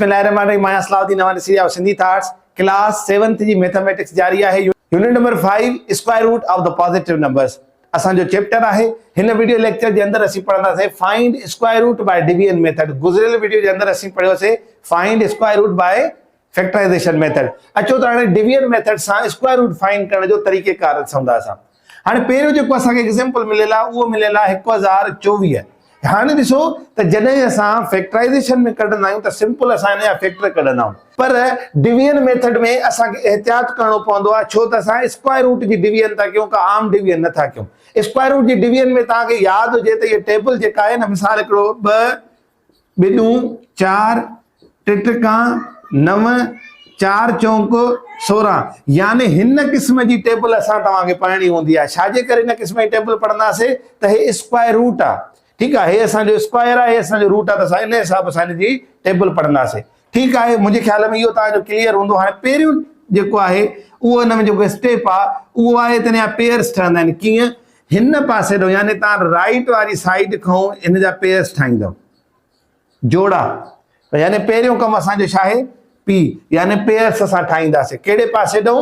بسم الله الرحمٰن الرحيم آهيان صلاح الدين حوالي series of Sindhi thoughts class seventh جي ميٿاميٽڪس جاري آهي unit number five square root of the positive numbers اسان جو چيپٽر آهي هن ويڊيو ليڪچر جي اندر اسين پڙهنداسين find square root by division method گذريل ويڊيو جي اندر اسين پڙهيو سي find square root by factorization method اچو ته هاڻي ڊويزن ميٿڊ سان اسڪوائر روٽ فائنڊ ڪرڻ جو طريقه ڪار ڏسون ٿا اسان هاڻي پهريون جيڪو اسان کي ايگزيمپل مليل آهي اهو مليل آهي هڪ هزار چوويهه هاڻي ڏسو ته جڏهن اسان فيڪٽرائيزيشن ۾ ڪڍندا آهيون ته سمپل اسان هن جا فيڪٽر ڪڍندا آهيون پر ڊويزن ميٿڊ ۾ اسان کي احتياط ڪرڻو پوندو آهي ڇو ته اسان اسڪوائر روٽ جي ڊويزن ٿا ڪيون ڪا عام ڊويزن نه ٿا ڪيون اسڪوائر روٽ جي ڊويزن ۾ توهان کي ياد هجي ته هي ٽيبل جيڪا آهي نه مثال هڪڙو ٻه ٻڏون چار، ٽٽڪان نو، چار چونڪ سورهن يعني هن قسم جي ٽيبل اسان توهان کي پڙهڻي هوندي آهي ڇاجي ڪري هن قسم جي ٽيبل پڙهنداسين ته هي اسڪوائر روٽ آهي ٺيڪ آهي هي اسان جو اسڪوائر آهي هي اسان جو روٽ آهي ته اسان ان حساب سان هن جي ٽيبل پڙهنداسين ٺيڪ آهي منهنجي خيال ۾ اهو توهان جو ڪليئر هوندو هاڻي پهريون جيڪو آهي اهو ان ۾ جيڪو اسٽيپ آهي اهو آهي ته هن پيئرس ٺهندا آهن ڪيئن هن پاسي ڏو يعني توهان رائٽ واري سائيڊ کان هن جا پيئرس ٺاهيندو جوڙا يعني پهريون ڪم اسان جو ڇا آهي پي يعني پيئرس اسان ٺاهينداسي ڪهڙي پاسي ڏو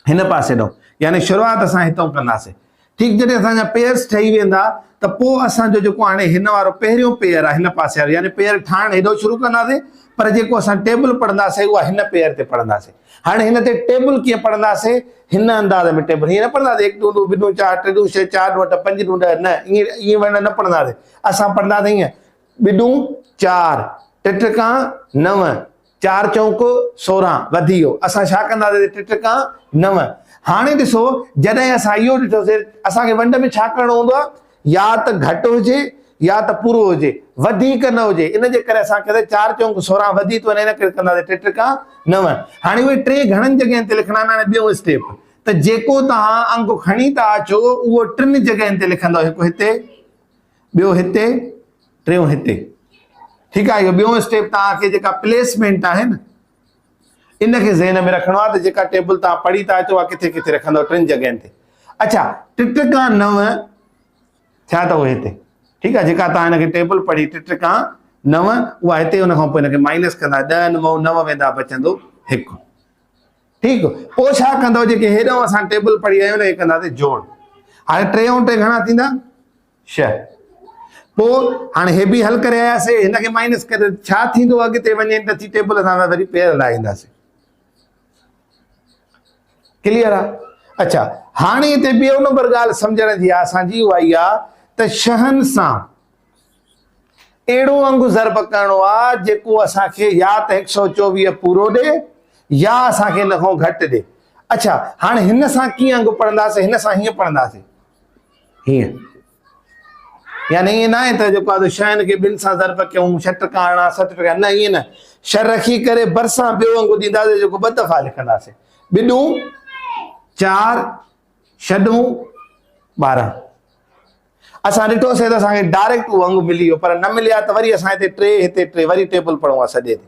هن پاسي ڏانهن يعني شروعات اسان هتئون ڪنداسين ٺيڪ جڏهن اسان جا پيئرس ٺهي ويندا ته پوء اسان جو جيڪو هاڻي هن وارو پهريون پيئر آهي هن پاسي وارو يعني پيئر ٺاهڻ هيڏو شروع ڪنداسين پر جيڪو اسان ٽيبل پڙهنداسين اها هن پيئر تي پڙهنداسين هاڻي هن تي ٽيبل ڪيئن پڙهنداسين هن انداز ۾ ٽيبل هيئن نه پڙهنداسين هڪ ڏون ڏون ٻه ڏون چار ٽي ڏون ڇهه چار ڏون اٺ پنج ڏون ڏهه نه ائين ائين ورنه نه پڙهنداسين اسان پڙهنداسين هيئن ٻه ڏون چار ٽه ٽڪا نو چار چونڪ سورهن وڌي ويو، اسان ڇا ڪنداسين تي ٽي ٽڪا نو. هاڻي ڏسو جڏهن اسان اهو ڏٺوسين اسان کي ونڊ ۾ ڇا ڪرڻو هوندو آهي يا ته گهٽ هجي يا ته پورو هجي وڌيڪ نه هجي ان جي ڪري اسان ڪياسين چار چونڪ سورهن وڌي ٿو وڃي ان ڪري ڪنداسين ٽي ٽڪا نو. هاڻي اهي ٽي گهڻن جڳهين تي لکڻا آهن هاڻي ٻيو اسٽيپ ته جيڪو توهان انگ کڻي ٿا اچو اهو ٽن جڳهين تي لکندو هڪ هتي ٻيو هتي. ٽيون هتي ٺيڪ آهي اهو ٻيون اسٽيپ توهان کي جيڪا پليسمينٽ آهي نه ان کي ذهن ۾ رکڻو آهي ته جيڪا ٽيبل توهان پڙهي ٿا اچو اها ڪٿي ڪٿي رکندو ٽن جڳهين تي اچھا ٽٽڪا نو ٿيا اٿو هتي ٺيڪ آهي جيڪا توهان هن کي ٽيبل پڙهي ٽٽڪا نو اها هتي ان کان پوء هن کي مائنس ڪندا ڏهه نو نو ويندا بچندو هڪ ٺيڪ پوء ڇا ڪندو جيڪي هيڏو اسان ٽيبل پڙهي رهيا آهيون هي ڪنداسي جوڙ هاڻي ٽي ۽ ٽي گهڻا ٿيندا شيء. پوء هاڻي هي به حل ڪري آياسي هن کي مائنس ڪري ڇا ٿيندو اڳتي وڃي ته اچي ٽيبل اسان سان وري پير لاهينداسي ڪليئر آ اچھا هاڻي هتي ٻيو نمبر ڳالهه سمجھڻ جي آ اسان جي اها ئي آ ته شهن سان اهڙو انگ ضرب ڪرڻو آ جيڪو اسان کي يا ته 124 پورو ڏي يا اسان کي ان کان گھٽ ڏي اچھا هاڻي هن سان ڪيئن انگ پڙهنداسي هن سان هيئن پڙهنداسي هيئن يعني ائين ناهي ته جيڪو آهي شين کي ٻن سان ضرب ڪيون ڇهه ٽڪا هڻا ست ٽڪا نه ائين نه شهه رکي ڪري برسان ٻيو انگ ڏينداسي جيڪو ٻه دفعا لکنداسي ٻڏون چار شڏون ٻارهن اسان ڏٺوسي ته اسانکي ڊائريڪٽ اهو انگ ملي ويو پر نه ملي ها ته وري اسان هتي ٽي هتي ٽي وري ٽيبل پڙهون ها سڄي تي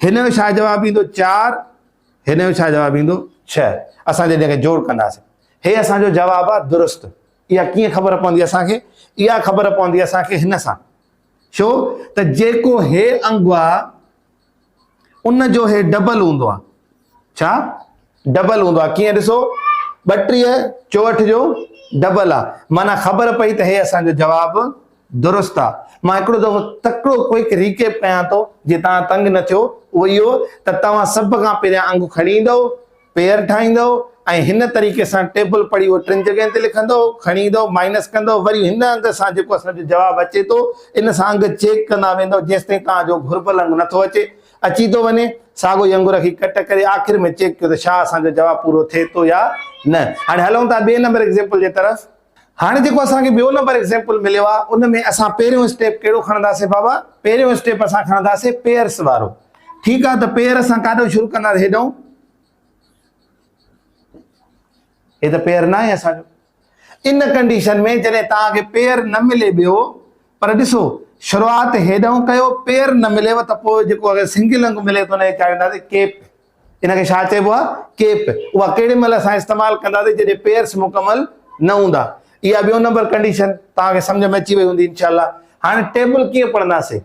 هن جو ڇا جواب ايندو چار هن جو ڇا جواب ايندو ڇهه اسان جڏهن کي جوڙ ڪنداسين هي اسان جو جواب آهي درست اها ڪيئن خبر پوندي اسان کي اها خبر پوندي اسان کي هن سان ڇو ته جيڪو هي انگ آهي ان جو هي ڊبل هوندو آهي ڇا ڊبل هوندو آهي ڪيئن ڏسو ٻٽيهه چوهٺ جو ڊبل آهي معنيٰ خبر پئي ته هي اسان جو جواب درست آهي مان هڪڙو دفعو تڪڙو ڪوئڪ ريڪيپ ڪيان ٿو جي توهان تنگ نه ٿيو اهو اهو ته توهان سڀ کان پهريان انگ کڻي ايندو پيئر ٺاهيندو ۽ هن طريقي سان ٽيبل پڙهي اهو ٽن جڳهين تي لکندو کڻي ايندو مائنس ڪندو وري هن انگ سان جيڪو اسان جو جواب اچي ٿو ان سان انگ چيڪ ڪندا ويندو جيستائين توهان جو گهربل انگ نٿو اچي اچي ٿو وڃي، ساڳو ئي انگور کي ڪٽ ڪري آخر ۾ چيڪ ڪيو ته ڇا اسان جو جواب پورو ٿئي ٿو يا نه. هاڻي هلون ٿا ٻئي نمبر ايگزيمپل جي طرف. هاڻي جيڪو اسان کي ٻيو نمبر ايگزيمپل مليو آهي ان ۾ اسان پهريون اسٽيپ ڪهڙو کڻنداسين بابا؟ پهريون اسٽيپ اسان کڻنداسين پيئرس وارو. ٺيڪ آهي ته پيئر اسان ڪاڏو شروع ڪنداسين هيڏئون. هي ته پيئر ناهي اسان جو. ان ڪنڊيشن ۾ جڏهن توهان کي پيئر نه ملي ٻيو پر ڏسو شروعات هيڏانهن ڪيو پيئر نه مليو ته پوء جيڪو اگر سنگل انگ ملي ته ان کي چاڙهينداسين ڪيپ ان کي ڇا چئبو آهي ڪيپ اها ڪهڙي مهل اسان استعمال ڪنداسين جڏهن پيئرس مڪمل نه هوندا اها ٻيو نمبر ڪنڊيشن توهان کي سمجھ ۾ اچي وئي هوندي انشاء الله هاڻي ٽيبل ڪيئن پڙهنداسين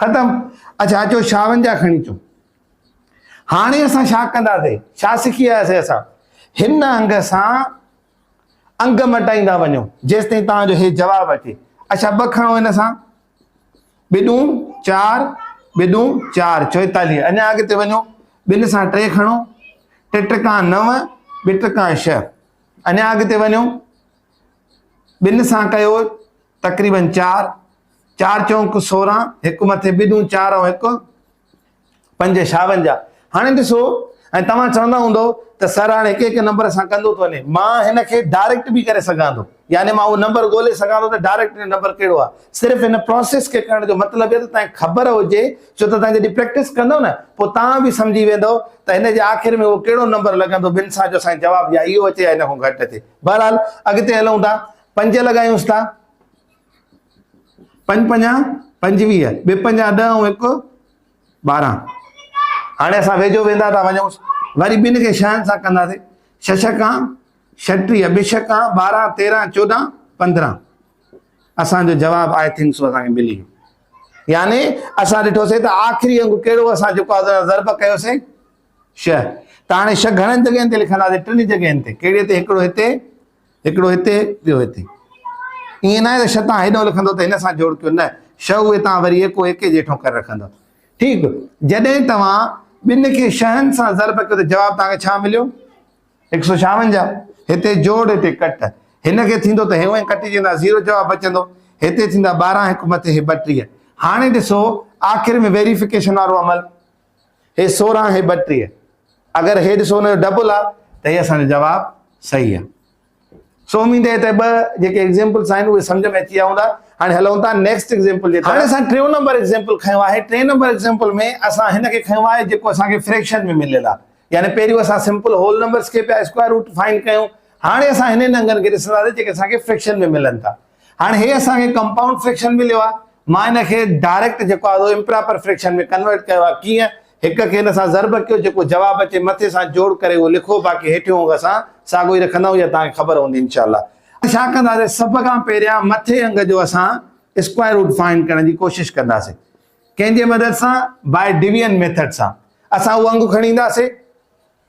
ختم اچ اچو شاهن جا کڻي اچو هاڻي اسان شا ڪنداسي شا سکي آياسي اسان هن انگ سان انگ مٽائيندا وڃو جيس تائين تان جو هي جواب اچي اچھا ب کڻو هن سان بدون چار بدون چار چويتاليه اڃا اڳتي وڃو بن سان ٽي کڻو ٽي ٽڪا نو ٻي ٽڪا شھ اڃا اڳتي وڃو بن سان ڪيو تقريبن چار، چار چونڪ سورهن، هڪ مٿي ٻه ڏون چار ۽ هڪ پنج شاونجاهه. هاڻي ڏسو ۽ توهان چوندا هوندؤ ته سر هاڻي هڪ هڪ نمبر سان ڪندو ٿو وڃي. مان هن کي ڊائريڪٽ به ڪري سگهان ٿو يعني مان اهو نمبر ڳولي سگهان ٿو ته ڊائريڪٽ هي نمبر ڪهڙو آهي. صرف هن پراسيس کي ڪرڻ جو مطلب اهي ته توهان کي خبر هجي ڇو ته توهان جڏهن پريڪٽس ڪندؤ نه پوء توهان به سمجهي ويندؤ ته هن جي آخر ۾ اهو ڪهڙو نمبر لڳندو ٻن سان جو اسان کي جواب يا اهو اچي يا ان کان گهٽ اچي. بهرحال اڳتي هلون ٿا. پنج لڳايونس ٿا، پنج پنجا پنجويهه، ٻه پنجا ڏهه ۽ هڪ ٻارهن. هاڻي اسان ويجهو ويندا ٿا وڃون، وري ٻن کي شهن سان ڪنداسين، ڇهه ڇڪا ڇٽيهه، ٻه ڇڪا ٻارهن، تيرهن چوڏهن پندرهن. اسان جو جواب آء ٿنڪ سو اسان کي ملي ويو. يعني اسان ڏٺوسين ته آخري انگ ڪهڙو اسان جيڪو آزاد ضرب ڪيوسين شهه. ته هاڻي شهه گهڻن جڳهين تي لکنداسين، ٽن جڳهين تي، ڪهڙي تي هڪڙو هتي، هڪڙو هتي، ٻيو هتي. ائين ناهي ته ش تان هيڏهون لکندؤ ته هن سان جوڙ ڪيو، نه، ش اهي تان وري ايڪو ايڪي جيٺون ڪري رکندؤ. ٺيڪ، جڏهن توهان ٻن کي شهن سان ضرب ڪيو ته جواب توهان کي ڇا مليو؟ هڪ سؤ ڇاونجاهه. هتي جوڙ، هتي ڪٽ. هن کي ٿيندو ته هي اهي ڪٽجي ويندا، زيرو جواب بچندو. هتي ٿيندا ٻارهن هڪ مٿي هي ٻٽيهه. هاڻي ڏسو آخر ۾ ويريفڪيشن وارو عمل. هي سورهن هي ٻٽيهه اگر هي ڏسو ان جو ڊبل آ ته هي اسان جو جواب صحيح آ سو اميد هي ته ٻه جيڪي ايگزيمپلز آهن اهي سمجھ ۾ اچي ويا هوندا هاڻي هلون ٿا نيڪسٽ ايگزيمپل جي هاڻي اسان ٽيون نمبر ايگزيمپل کنيو آهي ٽين نمبر ايگزيمپل ۾ اسان هن کي کنيو آهي جيڪو اسان کي فريڪشن ۾ مليل آ يعني پهريون اسان سمپل هول نمبرز کي پيا اسڪوائر روٽ فائنڊ ڪيون هاڻي اسان هنن انگن کي ڏسنداسين جيڪي اسان کي فريڪشن ۾ ملن ٿا هاڻي هي اسان کي ڪمپائونڊ فريڪشن مليو آهي مان هن کي ڊائريڪٽ جيڪو آهي سو امپراپر فريڪشن ۾ ڪنورٽ ڪيو آهي ڪيئن هڪ کي هن سان ضرب ڪيو جيڪو جواب اچي مٿي سان جوڙ ڪري اهو لکو باقي هيٺيون انگ اسان ساڳو ئي رکندا آهيون اها توهان کي خبر هوندي انشاء الله ڇا ڪنداسين سڀ کان پهريان مٿي انگ جو اسان اسڪوائر روٽ فائنڊ ڪرڻ جي ڪوشش ڪنداسين ڪنهن جي مدد سان باء ڊويزن ميٿڊ سان اسان اهو انگ کڻي اينداسين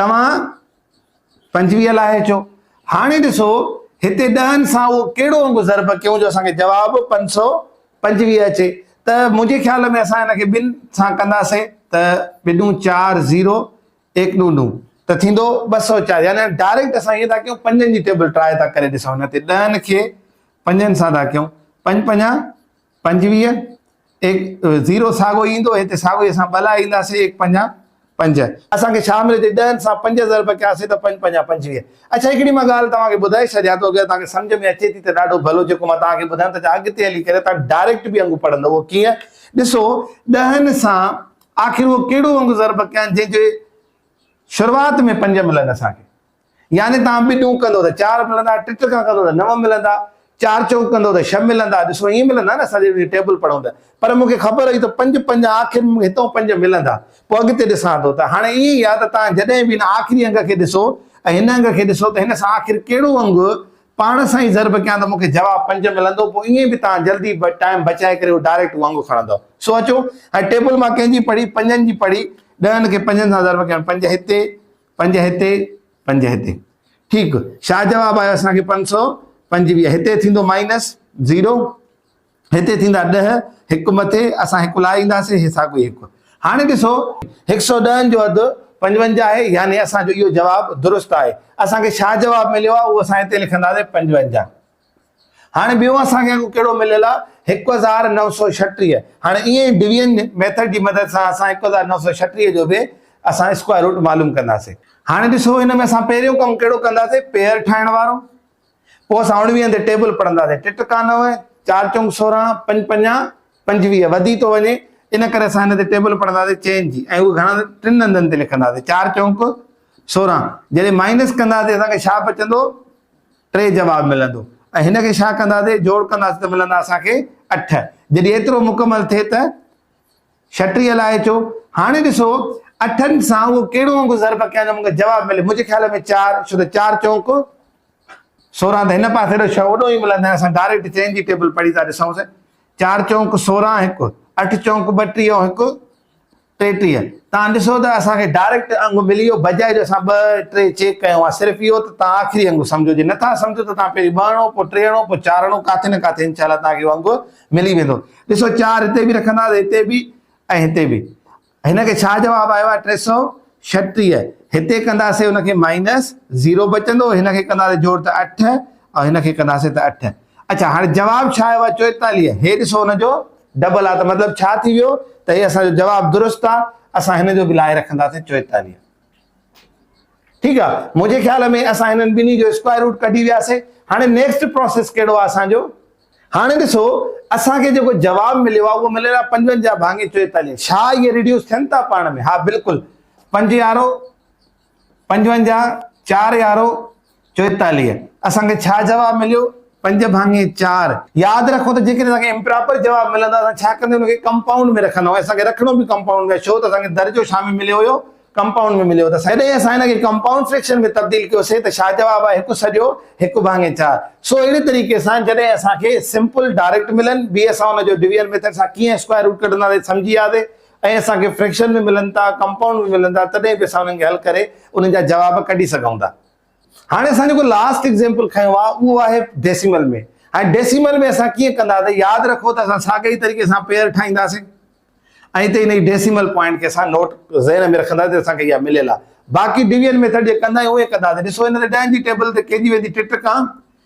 توهان پنجويهه لاء چئو. هاڻي ڏسو هتي ڏهن سان اهو ڪهڙو انگ ضرب ڪيون جو اسان کي جواب پنج سؤ پنجويهه اچي ته منهنجي خيال ۾ اسان هن کي ٻن سان ڪنداسين ته ٻه ڏون چار زيرو ايڪ ڏون ڏون ته ٿيندو ٻه سؤ چار يعني ڊائريڪٽ اسان ائين ٿا ڪيون پنجن جي ٽيبل ٽرائي ٿا ڪري ڏسون هتي ڏهن کي پنجن سان ٿا ڪيون پنج پنجا پنجويهه، ايڪ زيرو ساڳو ئي ايندو، هتي ساڳو ئي اسان ٻلا اينداسين، ايڪ پنجان پنج. اسان کي ڇا ملي ٿي، ڏهن سان پنج ضرب ڪياسين ته پنج پنجان پنجويهه. اڇا هڪڙي مان ڳالهه توهان کي ٻڌائي ڇڏيان ٿو، اگر توهان کي سمجهه ۾ اچي ٿي ته ڏاڍو ڀلو، جيڪو مان توهان کي ٻڌايم ته ڇا اڳتي هلي ڪري توهان ڊائريڪٽ به انگ پڙهندو، اهو ڪيئن؟ ڏسو، ڏهن سان آخر اهو ڪهڙو انگ ضرب ڪيان جنهن جي شروعات ۾ پنج ملن اسان کي. يعني توهان ٻه ڏون ڪندو ته چار ملندا، ٽه ٽڪا ڪندو ته نو ملندا، چار چوڪ ڪندو ته ڇهه ملندا، ڏسو ائين ملندا نه اسان جڏهن ٽيبل پڙهون ته. پر مون کي خبر هئي ته پنج پنج آخر ۾ مون کي هتئون پنج ملندا. پوء اڳتي ڏسان ٿو ته هاڻي ائين ئي آهي ته توهان جڏهن به هن آخري انگ کي ڏسو ۽ هن انگ کي ڏسو ته هن سان آخر ڪهڙو انگ پاڻ سان ئي ضرب ڪيان ته مون کي جواب پنج ملندو پوء ائين به توهان جلدي ٽائيم بچائي ڪري اهو ڊائريڪٽ اهو انگ کڻندؤ. سو اچو هاڻي ٽيبل مان ڪنهن جي پڙهي پنجن جي پڙهي ڏهن کي پنجن سان ضرب ڪيان پنج هتي، پنج هتي پنج هتي ٺيڪ شاهه جواب آيو اسان کي پنج سؤ پنجويهه هتي ٿيندو مائنس زيرو هتي ٿيندا ڏه هڪ مٿي اسان هڪ لاء اينداسي هي ساڳو هڪ هاڻي ڏسو هڪ سؤ ڏهن جو اڌ پنجونجا آهي يعني اسان جو اهو جواب درست آهي اسان کي شاهه جواب مليو آهي اهو اسان هتي لکنداسي پنجونجا هاڻي ٻيو اسان کي اڳ ڪهڙو مليل آ هڪ هزار نو سو ڇٽيهه هاڻي ايئن ئي ڊويزن ميٿڊ جي مدد سان اسان هڪ هزار نو سو ڇٽيهه جو به اسان اسڪوائر روٽ معلوم ڪنداسين هاڻي ڏسو هن ۾ اسان پهريون ڪم ڪهڙو ڪنداسين پيئر ٺاهڻ وارو پوء اسان اڻويهن تي ٽيبل پڙهنداسين ٽي ٽڪا نو چار چونگ سورهن پنج پنجا پنجويهه وڌي ٿو وڃي ان ڪري اسان هن تي ٽيبل پڙهنداسين چين جي ۽ اهو گهڻا ٽن هنڌن تي لکنداسين چار چونڪ سورهن جڏهن مائنس ڪنداسين اسان کي ڇا بچندو ٽي جواب ملندو ۽ هن کي ڇا ڪنداسي جوڙ ڪنداسي ته ملندا اسان کي اٺ جڏهن ايترو مڪمل ٿئي ته ڇٽيهه لاء اچو هاڻي ڏسو اٺن سان اهو ڪهڙو انگ ضرب ڪيا جو مونکي جواب ملي منهنجي خيال ۾ چار ڇو ته چار چونڪ سورهن ته هن پاسي اهڙو شو اڏو ئي ملندو اسان ڊائريڪٽ چين جي ٽيبل پڙهي ٿا ڏسون سائين چار چونڪ سورهن هڪ اٺ چونڪ ٻٽيهه هڪ ٽيٽيهه، توهان ڏسو ته اسان کي ڊائريڪٽ انگ ملي ويو بجاء جو اسان ٻه ٽي چيڪ ڪيون ها صرف اهو ته توهان آخري انگ سمجهو جي نٿا سمجهو ته توهان پهرين ٻهڻو پوء ٽيهڻو پوء چارڻو ڪاٿي نه ڪاٿي انشاء الله توهان کي اهو انگ ملي ويندو ڏسو چار هتي به رکنداسي هتي به ۽ هتي به هن کي ڇا جواب آيو آهي ٽي سؤ ڇٽيهه هتي ڪنداسي هن کي مائنس زيرو بچندو هن کي ڪنداسي جوڙ ته اٺ ۽ هن کي ڪنداسي ته اٺ اڇا هاڻي جواب ڇا آيو آهي چوئيتاليهه هي ڏسو هن جو ڊبل آ ته مطلب ڇا ٿي ويو ته هي اسان جو جواب درست آ اسان هن جو به لائي رکنداسين چويتاليهه ٺيڪ آ منهنجي خيال ۾ اسان هنن ٻنهي جو اسڪوائر روٽ ڪڍي وياسين هاڻي نيڪسٽ پروسيس ڪهڙو آ اسان جو هاڻي ڏسو اسان کي جيڪو جواب مليو آ اهو مليل آ پنجونجاهه ڀاڱي چويتاليهه ڇا اهي ريڊيوس ٿين ٿا پاڻ ۾ ها بلڪل پنج يارو پنجونجاهه، چار يارو چوئيتاليهه، اسان کي ڇا جواب مليو؟ پنج ڀاڱي چار. ياد رکو ته جيڪڏهن اسان کي امپراپر جواب ملن ته اسان ڇا ڪندي ان کي ڪمپائونڊ ۾ رکندا ۽ اسان کي رکڻو به ڪمپائونڊ ۾ ڇو ته اسان کي درجو ڇا ۾ مليو هيو ڪمپائونڊ ۾ مليو هيو ته جڏهن اسان ان کي ڪمپائونڊ فريڪشن ۾ تبديل ڪيوسين ته ڇا جواب آيو هڪ سڄو هڪ ڀاڱي چار سو اهڙي طريقي سان جڏهن اسان کي سمپل ڊائريڪٽ ملن به اسان ان جو ڊويزن ميٿڊ سان ڪيئن اسڪوائر روٽ ڪڍنداسين سمجهي وياسي ۽ اسان کي فريڪشن به ملن ٿا، ڪمپائونڊ به ملن ٿا تڏهن به اسان انهن کي حل ڪري انهن جا جواب ڪڍي سگهون ٿا. هاڻي اسان جيڪو لاسٽ ايگزيمپل کنيو آهي اهو آهي ڊيسيمل ۾. هاڻي ڊيسيمل ۾ اسان ڪيئن ڪندا ته ياد رکو ته اسان ساڳئي ئي طريقي سان پيئر ٺاهينداسين ۽ هتي هن ڊيسيمل پوائنٽ کي اسان نوٽ ذهن ۾ رکندا ته اسان کي اها مليل آهي. باقي ڊويزن ميٿڊ جيئن ڪندا آهيون اهو ئي ڪنداسين. ڏسو هن تي ڏهن جي ٽيبل تي ڪيجي ويندي ٽٽڪان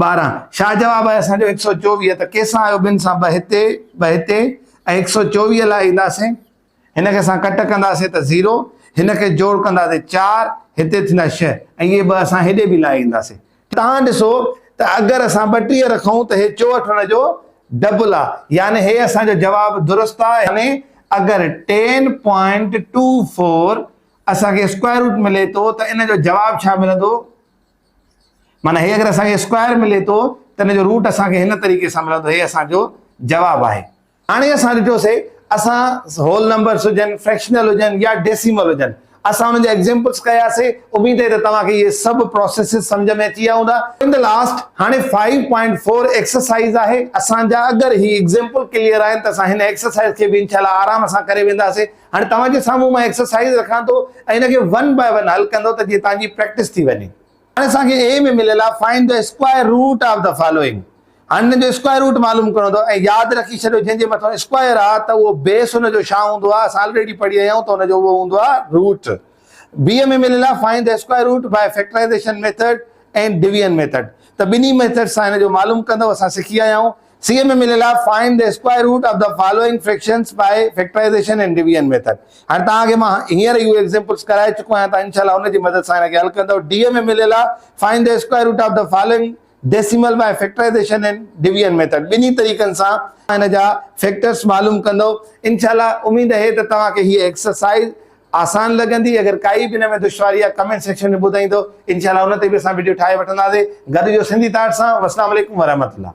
ٻارهن، شاهه جواب آهي اسان جو هڪ سؤ چوويهه ته ڪي سان آيو ٻن سان ٻه هتي ٻه هتي ۽ هڪ سؤ چوويهه لاء اينداسين هن کي اسان ڪٽ ڪنداسين ته زيرو هن کي جوڙ ڪنداسين چار هتي ٿيندا ڇهه ۽ اهي ٻه اسان هيڏي به لائي اينداسين تهان ڏسو ته اگر اسان ٻٽيهه رکون ته هي چوهٺ هن جو ڊبل آهي يعني هي اسان جو جواب درست آهي يعني اگر ٽين پوائنٽ ٽو فور اسان کي اسڪوائر روٽ ملي ٿو ته ان جو جواب ڇا ملندو؟ معنيٰ هي اگر اسان کي اسڪوائر ملي ٿو ته ان جو روٽ اسان کي هن طريقي سان ملندو هي اسان جو جواب آهي هاڻي اسان ڏٺوسي اسان هول نمبرس هجن فريڪشنل هجن يا ڊيسيمل هجن اسان ان جا ايگزيمپلس ڪياسي اميد آهي ته توهان کي اهي سڀ پروسيسز سمجهه ۾ اچي ويا هوندا ان دي لاسٽ هاڻي 5.4 ايڪسرسائز آهي اسان جا اگر هي ايگزيمپل ڪليئر آهن ته اسان هن ايڪسرسائز کي به انشاء الله آرام سان ڪري وينداسي هاڻي توهان جي سامهون مان ايڪسرسائيز رکان ٿو ۽ ان کي ون باء ون حل ڪندو ته جيئن توهان جي پريڪٽس ٿي وڃي. هاڻي اسان کي اي ۾ مليل آهي find the square root of the following. هاڻي هن جو اسڪوائر روٽ معلوم ڪرڻو اٿو ۽ ياد رکي ڇڏيو جنهن جي مٿان اسڪوائر آهي ته اهو بيس ان جو ڇا هوندو آهي اسان آلريڊي پڙهي آيا آهيون ته ان جو اهو هوندو آهي روٽ. بي ۾ مليل آهي find the square root by factorization method and division method ته ٻنهي ميٿڊ سان هن جو معلوم ڪندو اسان سکي آيا آهيون. C M M L L of find the square root of the following fractions by factorization and division method هاڻي توهان کي مان هينئر اهو ايگزيمپلس ڪرائي چڪو آهيان توهان انشاءالله ان جي مدد سان هن کي حل ڪندو D M M L L of find the square root of the following decimal by factorization and division method ٻنهي طريقن سان ان جا فيڪٽرس معلوم ڪندو انشاءالله اميد اهي ته توهان کي هي ايڪسرسائيز آسان لڳندي اگر ڪائي به ان ۾ دشواري آهي ڪمينٽ سيڪشن ۾ ٻڌائيندو انشاءالله ان تي به اسان وڊيو ٺاهي وٺنداسي گڏ جو سنڌي تاٽ سان والسلام عليڪم ورحمة الله